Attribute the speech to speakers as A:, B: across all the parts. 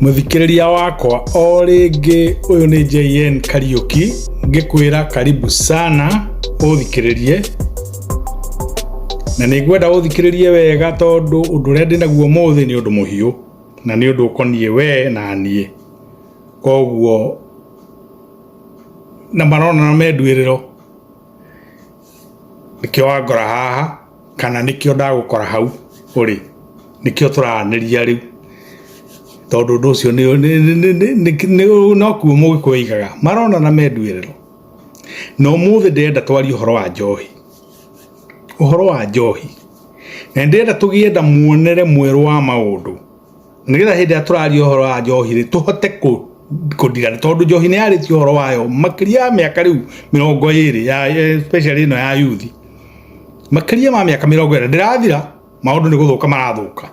A: Mũthikĩrĩria wakwa o rĩngĩ ũyũ nĩ JN Kariuki ngĩkwĩra karibu sana ũthikĩrĩrie na nĩ ngwenda ũthikĩrĩrie wega tondũ ũndũ ũrĩa ndĩ naguo ũmũthĩ nĩ ũndũ mũhiũ na nĩ ũndũ ũkoniĩ we na niĩ koguo na marona na menduĩrĩro nĩkĩo wangora haha kana nĩkĩo ndagũkora hau ũrĩ, nĩkĩo tũraranĩria rĩu, tondũ ũndũ ũcio nokuo mũgĩkũyũ aigaga maronana me nduĩrĩrũ, na ũmũthĩ ndĩrenda twarie ũhoro wa njohi, ũhoro wa njohi, na nĩndĩrenda tũgĩe na muonere mwerũ wa maũndũ. nigetha hindi ya turaria horo wa njohi ri tuhote ku kundira tondu njohi ni yariti horo wayo makiria ya miaka riu mirongo iri ya especially ino ya youth makiria ma miaka mirongo iri ndirathira maundu ni guthuka marathuka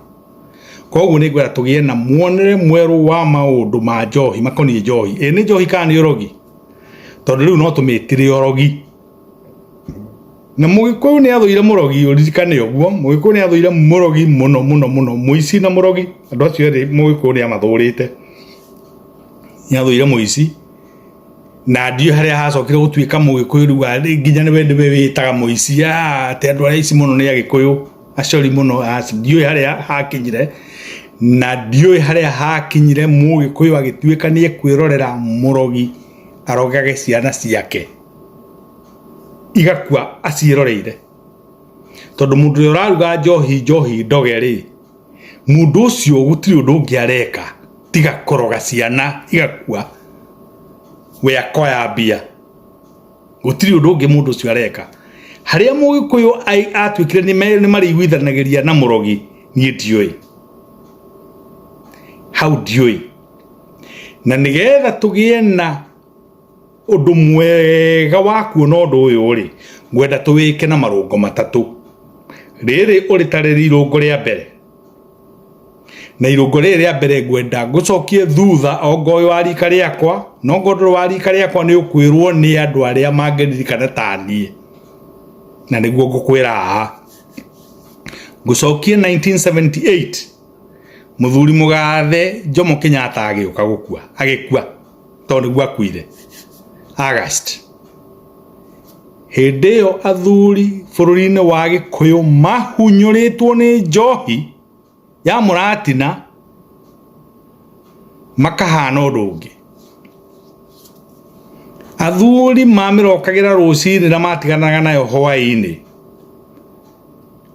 A: koguo ni ngwira tugie na muonere mweru wa maundu ma njohi makoniĩ njohi ĩ nĩ njohi kana nĩ ũrogi tondu riu no tũmĩtire ũrogi Na mũgĩkũyũ nĩ athũire mũrogi ũririkane ũguo mũgĩkũyũ nĩ athũire mũrogi mũno mũno mũno mũici na mũrogi andũ acio erĩ mũgĩkũyũ nĩ amathũrĩte nĩ athũire mũici na ndiũĩ harĩa hacokire gũtuĩka mũgĩkũyũ rĩu arĩ nginya nĩwe nĩwe wĩtaga mũici aah atĩ andũ arĩa aici mũno nĩ agĩkũyũ acori mũno aca ndiũĩ harĩa hakinyire na ndiũĩ harĩa hakinyire mũgĩkũyũ agĩtuĩka nĩ ekwĩrorera mũrogi arogage ciana ciake. igakua aciĩroreire tondũ mũndũ ũrĩa ũraruga njohi njohi ndoge rĩ mũndũ ũcio gũtirĩ ũndũ ũngĩ areka tiga kũroga ciana igakua we akoya mbia gũtirĩ ũndũ ũngĩ mũndũ ũcio areka harĩa mũgĩkũyũ ai- atuĩkire nĩ me- nĩ marĩiguithanagĩria na mũrogi niĩ ndiũĩ hau ndiũĩ na nĩgetha tũgĩe na Ũndũ mwega wa kuona ũndũ ũyũ rĩ, ngwenda tũwĩke na marũngo matatũ. Rĩrĩ ũrĩtarĩri irũngo rĩa mbere, na irũngo rĩrĩ rĩa mbere ngwenda ngũcokie thutha ongoĩ wa rika rĩakwa, na ongo ndũrĩ wa rika rĩakwa nĩ ũkwĩrwo nĩ andũ arĩa mangĩririkana ta niĩ, na nĩguo ngũkwĩra haha. Ngũcokie 1978 mũthuri mũgathe Jomo Kenyatta agĩũka gũkua, agĩkua. tondũ nĩguo akuire August hĩndĩ ĩyo athuri bũrũri-inĩ wa gĩkũyũ mahunyũrĩtwo nĩ njohi ya mũratina makahana ũndũ ũngĩ athuri mamĩrokagĩra rũcinĩ na matiganaga nayo hwaĩ-inĩ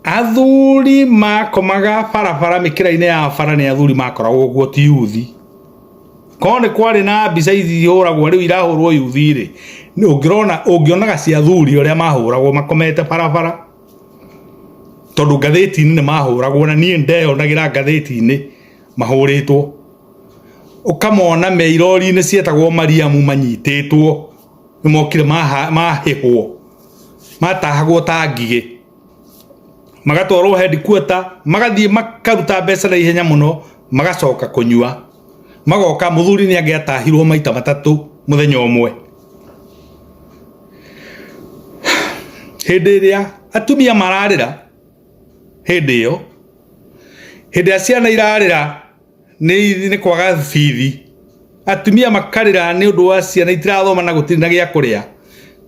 A: athuri makomaga barabara mikira-inĩ ya bara nĩ athuri makoragwo guo ti yuthi korwo nĩ kwarĩ na mbica ihũragwo rĩu irahũrwo yuthi rĩ ũngĩrona ũngĩonaga cia athuri ũrĩa mahũragwo makomete barabara tondũ ngathĩti-inĩ nĩ mahũragwo na niĩ ndeyonagĩra ngathĩti-inĩ mahũrĩtwo ũkamona me irori-inĩ cietagwo mariamu manyitĩtwo nĩ mokire mahĩhwo matahagwo ta ngigĩ magatwarwo headquarter magathiĩ makaruta mbeca na ihenya mũno magacoka kũnyua magoka mũthuri nĩ angĩatahirwo maita matatũ mũthenya ũmwe hĩndĩ ĩrĩa atumia mararĩra hĩndĩ ĩyo hĩndĩ ĩrĩa ciana irarĩra nĩ kwaga bithi atumia makarĩra nĩ ũndũ wa ciana itirathoma na gũtirĩ na gĩa kũrĩa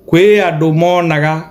A: kwĩ andũ monaga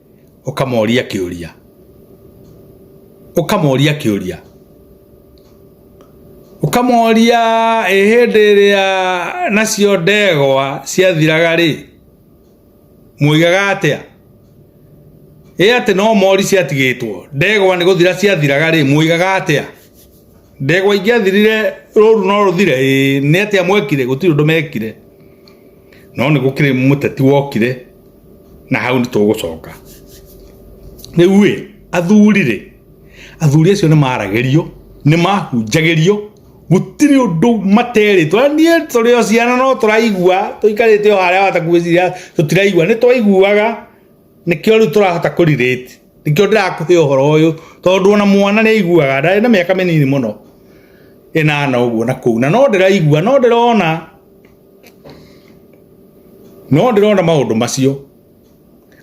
A: ũkamoria kĩũria ũkamoria kĩũria ũkamoria ĩ hĩndĩ ĩrĩa nacio ndegwa ciathiraga rĩ mwoigaga atĩa ĩ atĩ no mori ciatigĩtwo ndegwa nĩ gũthira ciathiraga rĩ mwoigaga atĩa ndegwa ingĩathirire rũru no rũthire ĩĩ, nĩ atĩa mwekire gũtirĩ ũndũ mekire no nĩ gũkĩrĩ mũteti wokire na hau nĩ tũgũcoka rĩu ĩ athuri rĩ athuri acio nĩ maragĩrio nĩ mahunjagĩrio gũtirĩ ũndũ materĩtwo Na niĩ tũrĩ o ciana no tũraigua tũikarĩte o harĩa watakuĩciria tũtiraigua nĩ twaiguaga nĩkĩo rĩu tũrahota kũrirĩti nikio ndirakuhe horo uyu tondu ona mwana ni aiguaga ndari na miaka minini muno inana uguo na kuu na no ndiraigua no ndirona no ndirona maundu macio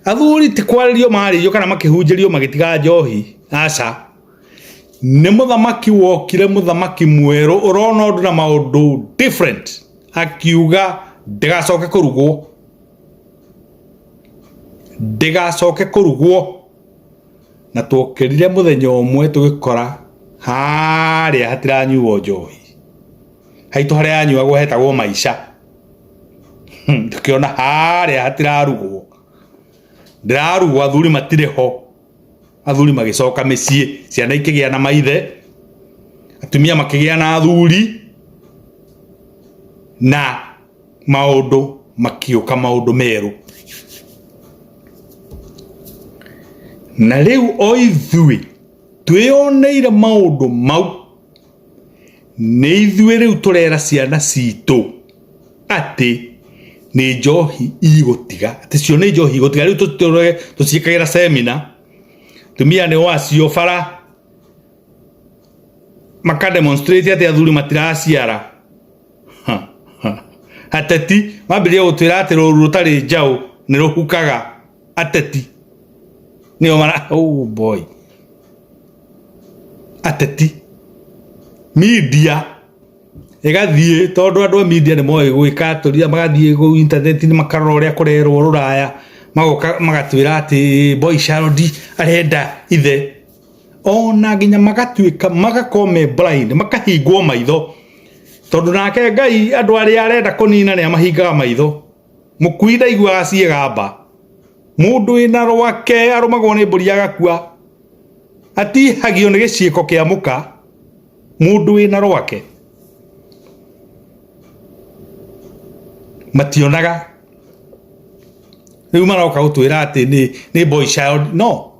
A: athuri ti kwaririo maririo kana makihunjirio magitiga njohi aca nä må thamaki wokire må thamaki mwerå å rona å ndå na maå ndå akiuga ndägacoke kå rugwo ndĩgacoke kũrugwo na twokĩrire mũthenya ũmwe tũgĩkora harĩa hatiranyuo njohi haitũ harĩa yanyuagwo hetagwo maica tũkĩona harĩa hatirarugwo ndĩrarugwo athuri matirĩ ho. athuri magĩcoka mĩciĩ ciana ikĩgĩa na maithe atumia makĩgĩa na athuri na maũndũ makiũka maũndũ merũ na rĩu o ithuĩ twĩyoneire maũndũ mau Nĩ ithuĩ rĩu tũrera ciana citũ atĩ nĩ njohi igũtiga, atĩ cio nĩ njohi igũtiga, rĩu tũciĩkagĩra seminar, atumia nĩ o acio bara, maka demonstrate atĩ athuri matiraciara, ateti mambĩrĩria gũtwĩra atĩ rũru rũtarĩ njaũ nĩ rũhukaga. ateti nĩo mara oh boy ateti media ĩgathiĩ tondũ andũ a media nĩ moĩ gwĩka atũria magathiĩ kũu intaneti-inĩ makarora ũrĩa kũrerwo rũraya magoka magatwĩra atĩ boy child arenda ithe ona nginya magatuĩka magakorwo me blind makahingwo maitho tondũ nake ngai andũ arĩa arenda kũnina nĩ amahingaga maitho Mũkui ndaiguaga ciĩga mba. Mũndũ wĩna rwake arũmagwo nĩ mbũri agakua. Atihagio nĩ gĩciĩko kĩa mũka. Mũndũ wĩna rwake. Mationaga. Rĩu maroka gũtwĩra atĩ nĩ boy child. No.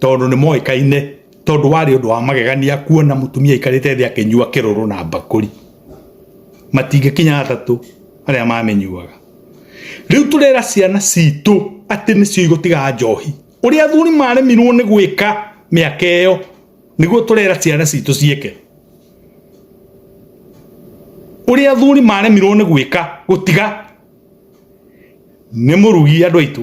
A: tondũ nĩ moĩkaine tondũ warĩ ũndũ wa magegania kuona mũtumia aikarĩte thĩ akĩnyua kĩrũrũ na mbakũri matingĩkinya atatũ arĩa mamĩnyuaga rĩu tũrera ciana citũ atĩ nĩcio igũtiga njohi ũrĩa athuri maremirwo nĩ gwĩka mĩaka ĩyo nĩguo tũrera ciana citũ ciĩke ũrĩa athuri maremirwo nĩ gwĩka gũtiga nĩ mũrugi andũ aitũ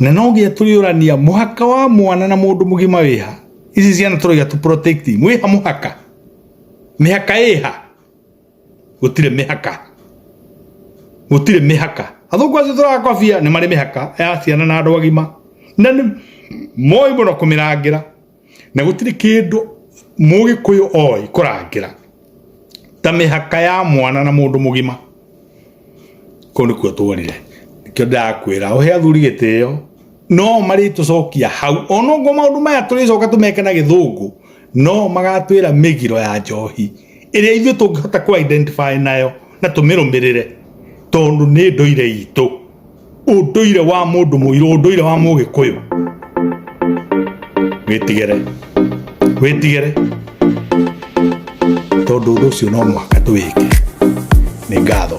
A: na no nginya tũrĩũrania mũhaka wa mwana na mũndũ mũgima wĩha ici ciana tũroiga tũ protect mwĩha mũhaka mĩhaka ĩha gũtirĩ mĩhaka gũtirĩ mĩhaka athũngũ acio tũrakobia nĩ marĩ mĩhaka ya ciana na andũ agima na nĩ moĩ mũno kũmĩrangĩra na gũtirĩ kĩndũ mũgĩkũyũ oĩ kũrangĩra ta mĩhaka ya mwana na mũndũ mũgima kũu nĩkuo tuonire nĩkĩo ndĩrakwĩra ũhe athuri gĩtĩo no marĩtũcokia hau onongwo maũndũ maya tũrĩcoka tũmeke na gĩthũngũ no magatwĩra mĩgiro ya njohi ĩrĩa ithuĩ tũngĩhota kũ identify nayo na tũmĩrũmĩrĩre tondũ nĩ ndũire itũ ũndũire wa mũndũ mũirũ ũndũire wa mũgĩkũyũ wĩtigere wĩtigere tondũ ũndũ ũcio no mũhaka tũwĩke nĩ ngatho